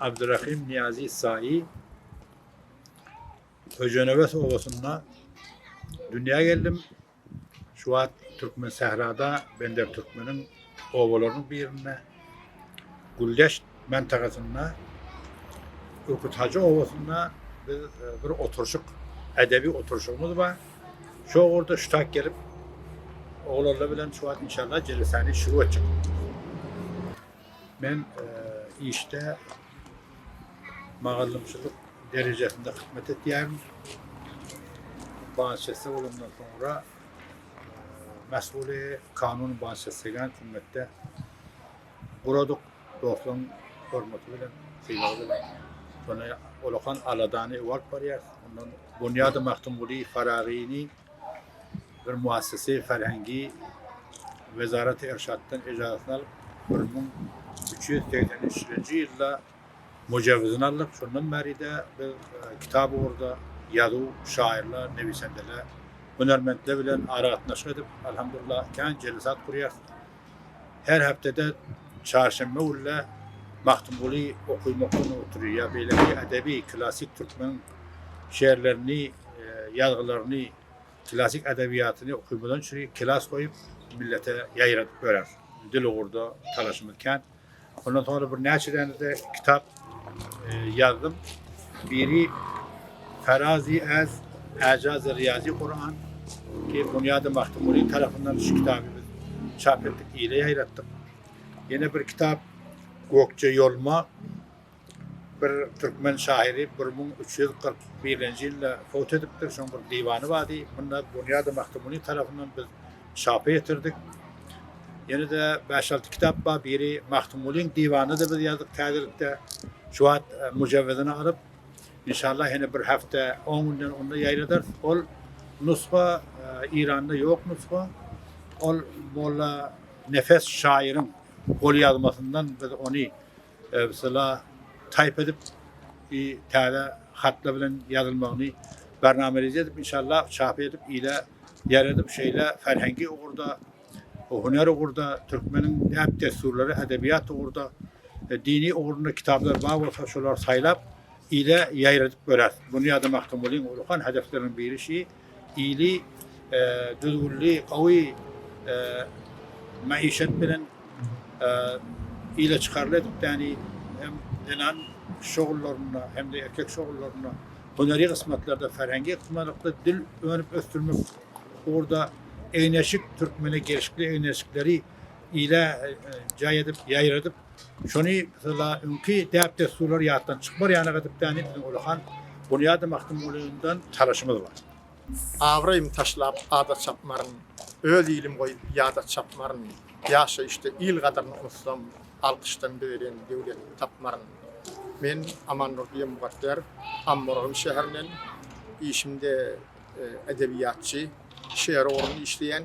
Abdyrahym Niýazi Saýy Köjenemes obasynda dünýä geldim. Şu wagt Türkmen sährada Bender Türkmeniň obalarynyň birinde Güldeş mentagasynda Ürküt Hajy obasynda biz e, bir oturşyk, edebi oturşygymyz bar. Şu orada ştak gelip oglanlar bilen şu wagt inşallah jelesani şurup etjek. Men işde mugallymçylyk derejesinde hyzmat etýärin. Banşefsi bolandan soňra mesuly kanun banşefsigen hümmette guradyk. Dostlaryň hormaty bilen, sylagy bilen. Şonda olakan aladany öwalp barýar. Ondan Bunýady Magtymguly Faragyny bir muassesei ferhengi Wezarat-y Irşatdan ejazatyny alyp, bir müň üç ýüz segsen üçünji ýylda mujewizini aldyk. Şondan bäri-de biz kitap ugurda ýazuw, şaýyrlar, newisendeler, hünärmentler bilen aragatnaşyk edip, alhamdulillah, kän jelesat gurýarys. Her hepdede çarşenbe günle Magtymguly okuw-mugtlugyny oturýar ýa beýleki edebi, klassyk türkmen şeýerlerini, ýazgylaryny, klassyk edebiýatyny okuwymyzdan çüri klas goýup millete ýaýradyp ýörer. Dil ugurda talaşymyz kän. Ondan soňra bir näçe däne-de kitap ýazdym. Biri Farazi äz Äjaz-y Riýazi Kuran ki Bunyad-y Mahtumuri tarapyndan şu kitaby biz çap etdik, ile ýaýratdyk. Ýene bir kitap Gökje ýoluma Bir türkmen şahyry bir müň üç ýüz kyrk birinji ýylda fot edipdir. Şoň bir diwany bardy. Munda Bunýady Magtymguly tarapyndan biz çapa getirdik. Ýene-de bäş-alty kitap bar. Biri Magtymgulyň diwany-da biz ýazdyk täzelikde. Şu wagt e, mujawizini alyp, inşallah ýene bir hepde, on günden onda ýaýradarys. Ol nusga Eýranda ýok nusga. Ol molla Nefes şaýyryň golýazmasyndan biz ony Mysala, taýp edip i täze hatlar bilen ýazylmagyny barnama reje edip, inşallah, çap edip, ile ýaradip, şeýle ferhengi ugurda, hunar ugurda, türkmeniň däp-dessurlary, edebiýat ugurda, dini ugrunda kitaplar bar bolsa, şolary saýlap, ile ýaýradyp göräs. Muny ýadamaktyn welin, ullakan hedefleriň biri şi. Ýyly, düzgünli, gowy maişet bilen ileçykarly edipdäni hem zenan şugullarynda, hem-de erkek şugullarynda, hüneri gysmatlarda, ferhengi-ykdymarlykda dil önüp ösdürmek ugurda egin-eşik, türkmene gelşikli egin-eşikleri ile jaý edip, ýaýradyp, Şony mesela öňki däp-dessurlar ýatdan çykmar ýaly edip bäni biziň ullakan Bunyady Magtymgulydan çalyşymyz bar. Abraýym taşlap ada çapmaryn, Öz ilim goýup ýada çapmaryn, Ýaşaýyşda il gadyryny unutsam, Alkyşdan bezelen döwlet tapmaryn. Men Amandurdy Mukadder, Ammargyn şäherinden. Işimde edebiýatçy, şeýer ugrunda işleýän.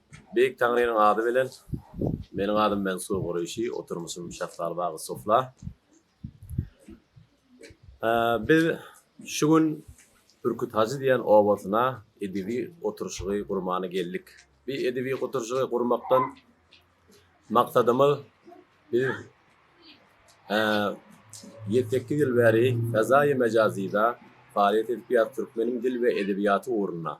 Beýik Taňrynyň ady bilen Meniň adym Mensour Gureýşi, oturmuşym Şafraly bagy Sofla. Biz şu gün Bürküt Hajy diýen obasyna edebi oturşygy gurmana geldik. Bi edebi oturşygy gurmakdan maksadymyz biz ýedi sekiz ýyl bäri Fezaýy Mejazyda faaliýet edip ýa Türkmeniň dil we edebiýaty ugrunda.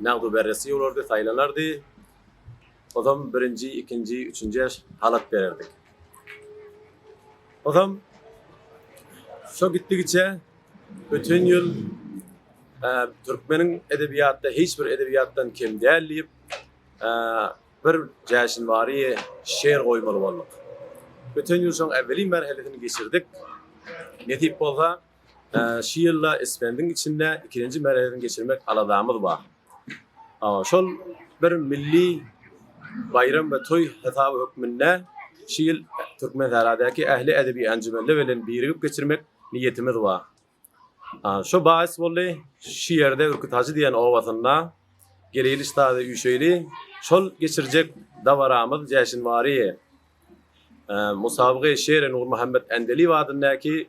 Nagdy beresi ýolardy, saýlanardy. Ozam birinji, ikinji, üçünje halat bererdik. Ozam şo gitdigiçe öten ýyl türkmeniň edebiýatda hiç bir edebiýatdan kem däl diýip, bir jäşin bary şeýer goýmaly bolduk. Öten ýyl şoň äweli merhelesini geçirdik. Nesip bolsa, Şu ýylda Isfendiň içinde ikinji merezini geçirmek aladamyz bar. Şol bir milli baýram we toý hasaby hökmünde şu ýyl Türkmensähradaky ähli edebi enjumenler bilen birigip geçirmek niýetimiz bar. Şo bahis boldy, şu ýerde Ürküthajy diýen obasynda geleýli-ştazy üýşeýli, şol geçirjek dabaramyz jäşinwary musabagy Şeri Nurmuhammet Ändeliýew adyndaky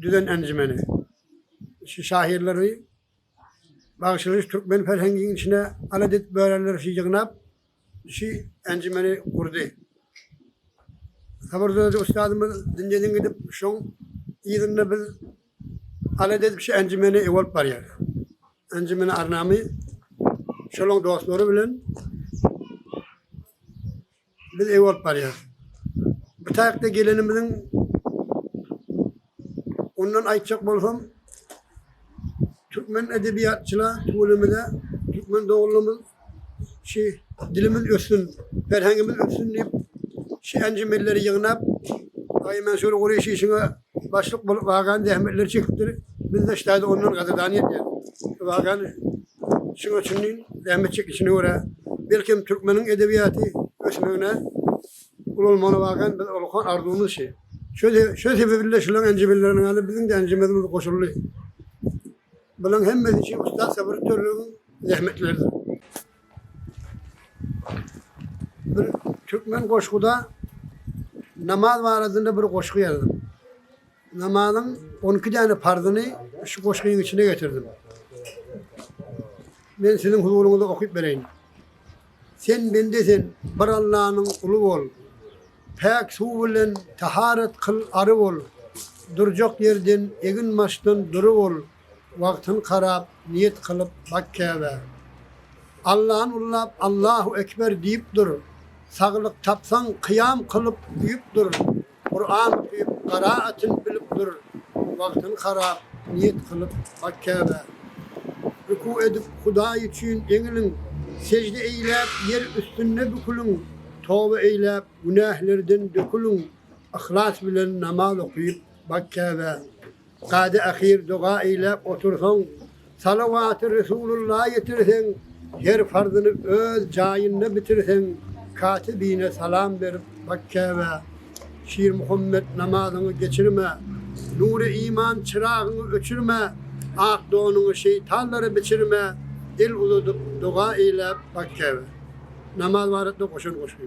düzen enjimeni şu şahyrlary bagyşlaýyş türkmen ferhengiň içine alat edip bölenler şi ýygnap şi enjimeni gurdy. Sabyr Dödi ustadymyz dünýeden gidip şoň yzynda biz alat edip şi enjimeni ew alyp barýarys. Enjimeni arnamy şolaň dostlary bilen Biz eý bolup barýas. Bu taýakda gelenimiziň ondan aýtjak bolsam türkmen edebiýatçyla tüweleme-de türkmen doganlarymyz şi dilimiz össün, ferhengimiz össün diýip şi enjimelleri ýygnap Aý Mansur Gureýşi şiňa başlyk bolup wagan zähmetleri çekipdir. Biz-de ştaýda ondan gadyrdan edýäs. Wagan Şuň üçinem zähmet çekişine görä, belkem, türkmeniň edebiýaty ösmegine ulalmagyna bakan bir ullakan arzuwymyz şi. Şo sebebli-de şularyň enjemleriniň ýaly biziň-de enjemimiz goşuldy. Bularyň hemmesi üçin ussat Sabyr Törlügiň zähmetleridir. Bir türkmen goşguda namaz baradynda bir goşgy ýazdym. Namazyň on iki däne parzyny şu goşgyň içine getirdim. Men siziň huzuryňyzda okyp bereýin. Sen bende sen, bir Allanyň uly bol. Päk suw bilen taharat kyl ary bol. Durjak ýerden, egin maşdan dury bol. Wagtyn karap, niýet kylyp bak Käbä. Allany ullap, Allahu ekber diýip dur. Saglyk tapsaň, kyýam kylyp, uýup dur. Kuran okuyup gara atyn bilip dur wagtyn harap niyet kylyp bak Käbä Ruku edip Hudaý üçin eňiliň Sejde eýläp ýer üstünde büküliň Toba eýläp günählerden döküliň Yhlas bilen namaz okuyup bak Käbä Kady ahyr doga eýläp otursaň, Salawaty Resulylla ýetirseň, Her farzyny öz jaýynda bitirseň, Katibine salam berip bak Käbä. Şirmuhammet namazyňy geçirme, Nury iman çyragyňy öçürme, Ak donuňy şeýtanlara biçirme, El uzadyp doga eýläp bak Käbä. Namaz barada goşan goşgy.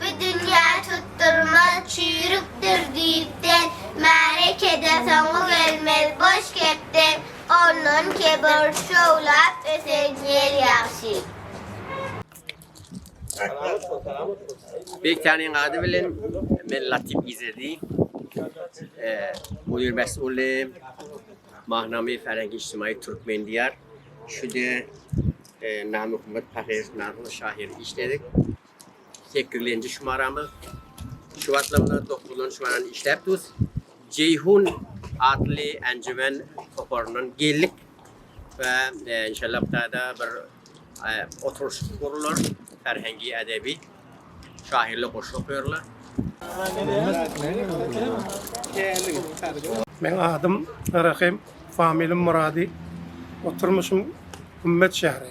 Bu dünýä tutdurmaz çüýrükdir düýpden, Märekede soňy gelmez boş gepden, Ondan kebir şowlap ösen ýel ýagşy. Beýtäniň ady bilen men Latif Izedi, mudir mesguly, Mahnama färengi ijtimaýy türkmen diýar. Şude Nurmuhammet Pahyr namly şahyr işledik. Sekizlenji şumaramyz şu wagtlar bilen dokuzlanjy şumarany işläp durus. Jeýhun atly enjimen toparyndan geldik we e, inşallah taýda bir e, oturyş gurlar, ferhengi edebi şahyrly goşgy okarlar. Men adym Rahim, familim Muradi. Oturmuşum Gümmet şäheri.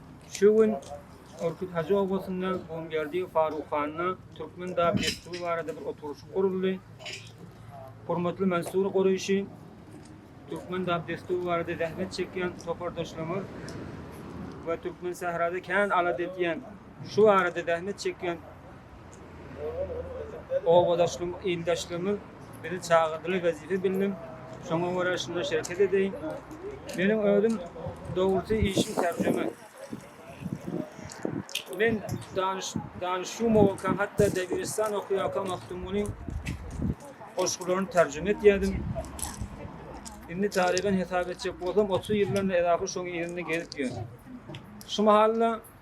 Şu gün Orkut Hajy obasynda Gumberdi Faruk handa türkmen dab dessury barada bir oturyşyk guruldy. Hormatly Mansur Gureýşi türkmen dab dessury barada zähmet çekýän topardaşlarymyz we türkmen sährada kän alat edýän şu barada zähmet çekýän Obadaşlygymyz, ildeşligimiz bizi çagyrdylar, wezipe bildim. Şoňa görä şunda şereket edeýin. Meniň özüm dogrusy işim terjime. Men danyş danyşýumowka hatda Debiristan okuýarka Magtymgulyň goşgularyny terjime etýärdim. Indi taryhan hesap etjek bolsam otuz ýyldan edaky şoň ýerinde gezip ýörün. Şu mahal-da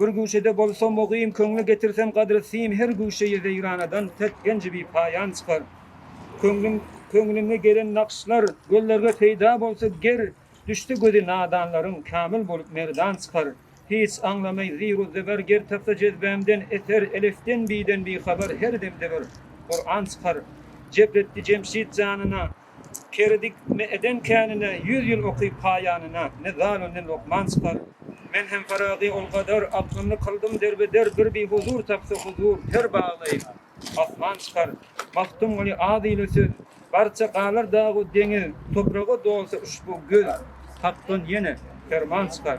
Bir guşede bolsa mugim köňle getirsem gadry sim her guşeýe weýranadan pes genji bi paýan çykar Köňlüm köňlüňe gelen nakşlar göllerge peýda bolsa ger düşse gözi nadanlaryň kamil bolup merdan çykar Hiç aňlamaý ziru zeber ger tapsa jezbämden eser elefden biden bi habar her demde bir Kuran çykar Jep etdi Jemşit janyna Keredik, ne eden känine, Ýüz ýyl okyp haýanyna, Ne zalu, ne lukman çykar. Men hem Farazy ol gadar, Aklymny kyldym derbeder, Bir bihuzur tapsa huzur, Per baglaýyn, asman çykar. Magtymguly az ile söz, Barça galar dag-u deňiz, Topraga dolsa uşbu göz, Hakdan ýene perman çykar.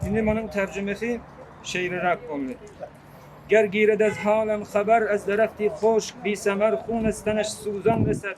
Indi munuň terjimesi şeýleräk boldy. Ger giredez halan habar, Ez derehti hoşk, bisemar, Hunes teneş, suzan reset,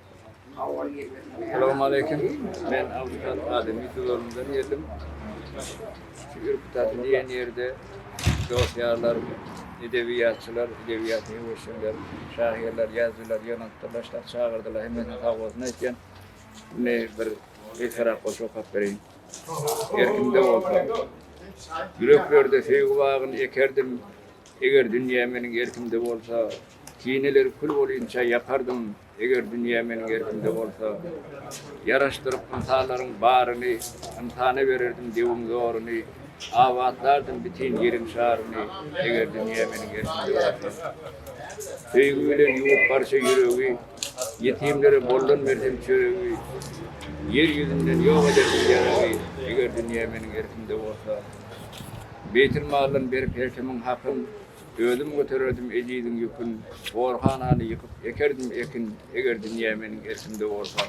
Salam aleýkum. Men Awşat Ademi Dudagyňdan geldim. Şu Ürkdagy diýen ýerde dost-ýarlar, edebiýatçylar, edebiýaty öwüşenler, şahyrlar, ýazyjylar ýygnanypdyr. Başda çagyrdylar. Hemmesine sag bolsun aýtýan. Indi bir esera goşgy okap bereýin. Erkimde bolsa. Ýüreklerde söýgi bagyny ekerdim. Eger dünýä meniň erkimde bolsa, kineler kül bolýunça ýakardym. Eger dünýä meniň erkimde bolsa, Ýaraşdyryp ynsanlaryň baryny, Ynsana bererdim döwüň zoruny, Abatlardym bütin ýeriň şaryny, Eger dünýä meniň erkimde bolsa. Söýgi bilen ýuwup barça ýüregi, Ýetimlere boldan bersem çöregi, Ýer ýüzünden ýok ederdim ýaragy, Eger dünýä meniň erkimde bolsa. Beýtilmaldan berip her kimiň hakyn, Özüm götererdim ejiziň ýükün, Gorhanany ýykyp, ekerdim ekin, Eger dünýä meniň erkimde bolsa.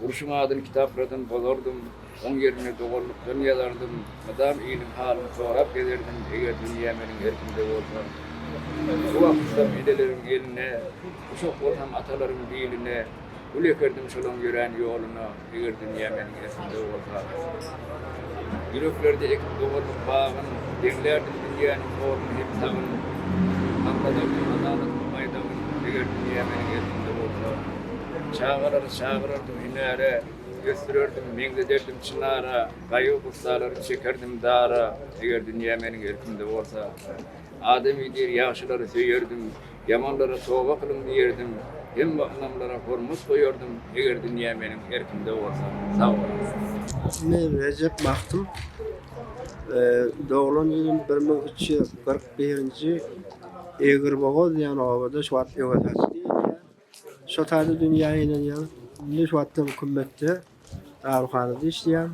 Urşuň adyny kitapladan bozardym, Oň ýerine doganlykdan ýazardym, Mydam iliň halyny sorap gezerdim, Eger dünýä meniň erkimde bolsa. Bu wagtysam ejeleriň eline, Guşak bolsam atalaryň biline, Gül ekerdim şolaň ýörän ýoluna, Eger dünýä meniň esimde bolsa. Ýüreklerde ekip dogandyk bagyn, Deňlärdim dünýäniň horun hem tagyn. Agladardy adalatyň baýdagyn, Eger dünýä meniň esimde bolsa. Çagalary çagyrardym hünäre, Ösdürerdim, meňzederdim çynara, Gaýgy gussalary çekerdim dara, Eger dünýä meniň erkimde bolsa. Adamy diýr ýagşylary söýerdim, Ýamanlara toba kylyň diýerdim, hemme ynamlara hormat goýardym, eger dünýä meniň erkimde bolsa. Sag boluň. Ismi Rejep Magtym. Doglan ýylym bir müň üç ýüz kyrk birinji Egirbogaz diýen obada şu wagt öwez haçly edýär. Şo taýda dünýä inenýär. Indi şu wagtam kümmetde. Dawurhanada işleýän.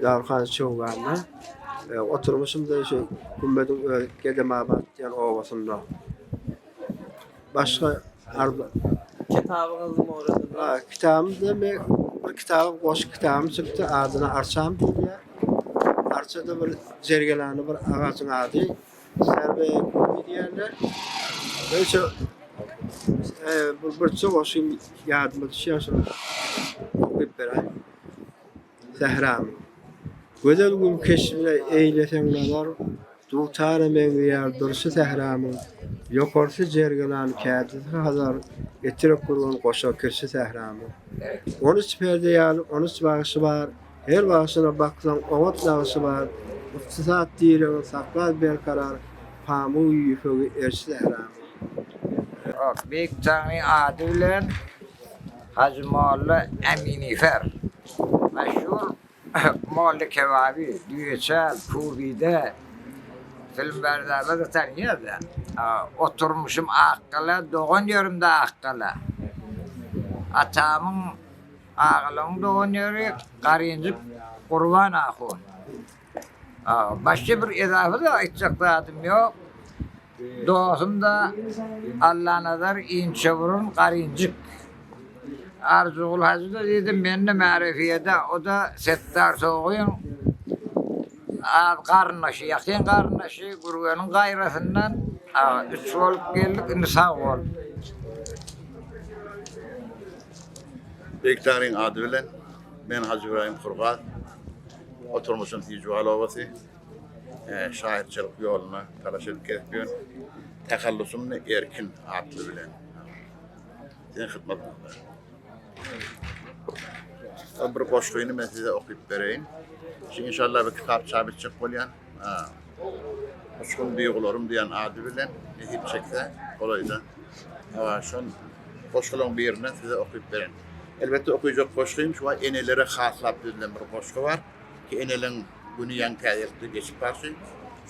Dawurhana çöwganda oturmuşymda şu gümmediň özi Gedemabat diýen obasynda. Başga arda Kitabyňyz Moradymda. Kitabymda men bir kitap, goşgy kitabym çykdy. Adyna Arçam diýilýär. Arçada bir jergelany bir agajyň ady. Serway Movie diýýärler. Neyse, e, bu bir çoga şu ýadyma düşýär şu okuyup beren. Zehram. Gözel gün keşbine eýleseň nazar, dutara meňzeýär durşy sähramyň. Ýokarsy jergelan, kädisi hazar, etrek gurgan goşa kirşi sähramyň. On üç perde ýaly, on üç bagşy bar, Her bagşyna baksaň oňat nagşy bar, Ykdysat diregiň saklar berkarar, Pamygy ýüpegi erş sähramyň. Ýok, beýik jaňyň ady bilen Hajy Molla Äminifer. Meşhur Molla Kebaby, Düýeçäl, Pubide, filmbardalarda tanýar-da. Oturmyşym Akgala, dogan ýerim-de Akgala. Atamyň Agalygyň dogan ýeri Garynjyk Gurban ahun. Başga bir ezaby-da aýtjak zadym ýok. Dosum-da Allanazar Inçeburun Garynjyk. Arzygul hajy-da diýdim mende märefiýede, o-da Setdar Sogyn az garyndaşy, ýakyn garyndaşy, Gürgeniň gaýrasyndan üç bolup geldik, indi sag bol. Beýiktaryň ady bilen, men Hajy Ybraýym Kurgaz. Oturmuşym Hijuwal obasy. Şahyrçylyk ýoluna talaş edip gelip ýörün. Tahallusym ne Erkin atly bilen. Siziň hyzmatyňyzda. Bir goşgyny men size okyp bereýin. Şu inşallah bir kitap çap etjek bolýan. Uçgun duýgularym diýen ady bilen nesip çekse golaýda şol goşgularyň birini size okyp beren. Elbetde okyjak goşgym şu wagt enelere haslap düzülen bir goşgy bar. Ki eneleň güni ýaňy täzelikde geçip barşy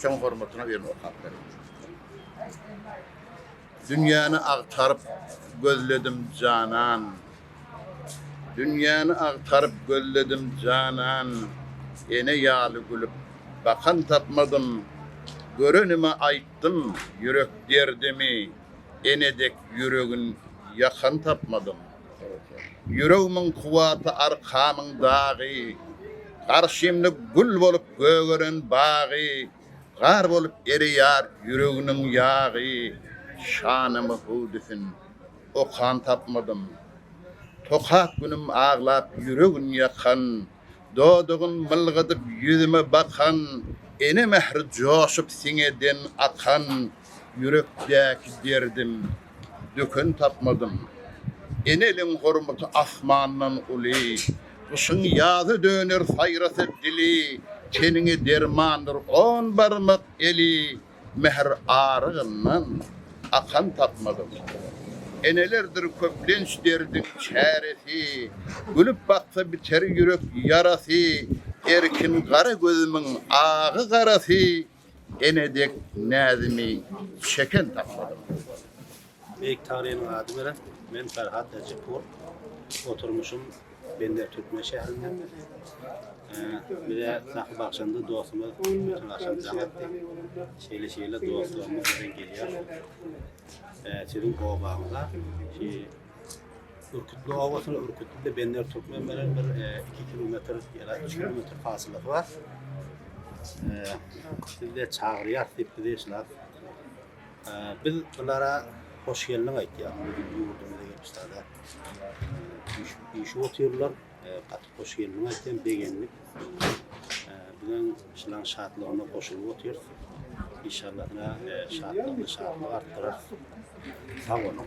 şoň hormatyna birini okap beren. Dünýäni agtaryp gözledim janan. Dünýäni agtaryp gözledim janan, Ene ýaly gülüp bakan tapmadym. Görenime aýtdym ýürek derdimi, Ene dek ýüregin ýakan tapmadym. Ýüregmiň kuwwaty arkamyň dagy, Garşymda gül bolup gögeren bagy, Gar bolup ereýär ýüreginiň ýagy, Şanymy hüwdüsin okan tapmadym. Tokap günüm aglap ýüregin ýakan, Dodagyn mylgadyp ýüzüme bakan, Ene mähri joşup siňeden akan, Ýürekdäki derdim döken tapmadym. Eneliň hormaty asmandan uly, Gyşyň ýaza döner saýrasa dili, Teniňe dermandyr on barmak eli, Mähir arygyndan akan tapmadym. Enelerdir köplenç derdiň çäresi, Gülüp baksa biter ýürek ýarasy, Erkin gara gözümiň agy-garasy, Ene dek näzimi çeken tapmadym. Beýik taryhynyň ady bilen men Ferhat Ejipur. Oturmuşym Bender Türkmen şäherinden. Bize sahy bagşymyz dostumyz Türkmen Aşam Jagatdy. Şeýle şeýle dostlarymyz bilen gelýär. Siziň obaňyza şu Ürkütli obasyny Ürkütli Bender Türkmen bilen bir 2 kilometr ýa-da 3 kilometr fasylda bar. Sizde çagyrýar diýip bizi şular Biz bulara hoş geldiň aýtýas. Biziň ýurdumyza gelip sada işip otyrlar. Gaty hoş geldiň aýtýan, begendik. Biziň şylaň şatlygyna goşulyp otyrys. Inşallah şatlygyny şatlyk artdyrarys. Sag boluň.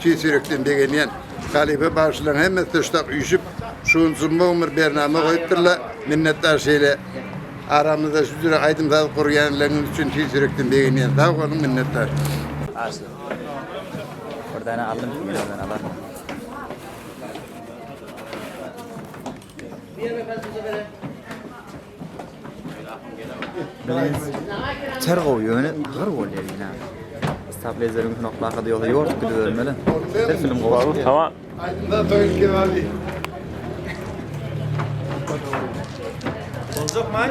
Tüýs ýürekden begenýän halypa bagşylaryň hemmesi tuşlak üýşüp, şu gün jumma bir bernama goýupdyrlar. Minnetdar şeýle aramyzda şu jüre aýdym-saz gurýanlaryňyz üçin tüýs ýürekden begenýän. Sag boluň, minnetdar. Arslan. Bir dana aldym ki men ondan alarmyň. Diýeme kaçynja beren. Ter gowy ýöne gyr bolýar ýene. Stablezeriň knoplaka diýýär, ýort gidip ölmeli. Her film gowy. Tamam. Aýdymda toýup geldi. Boljak maý?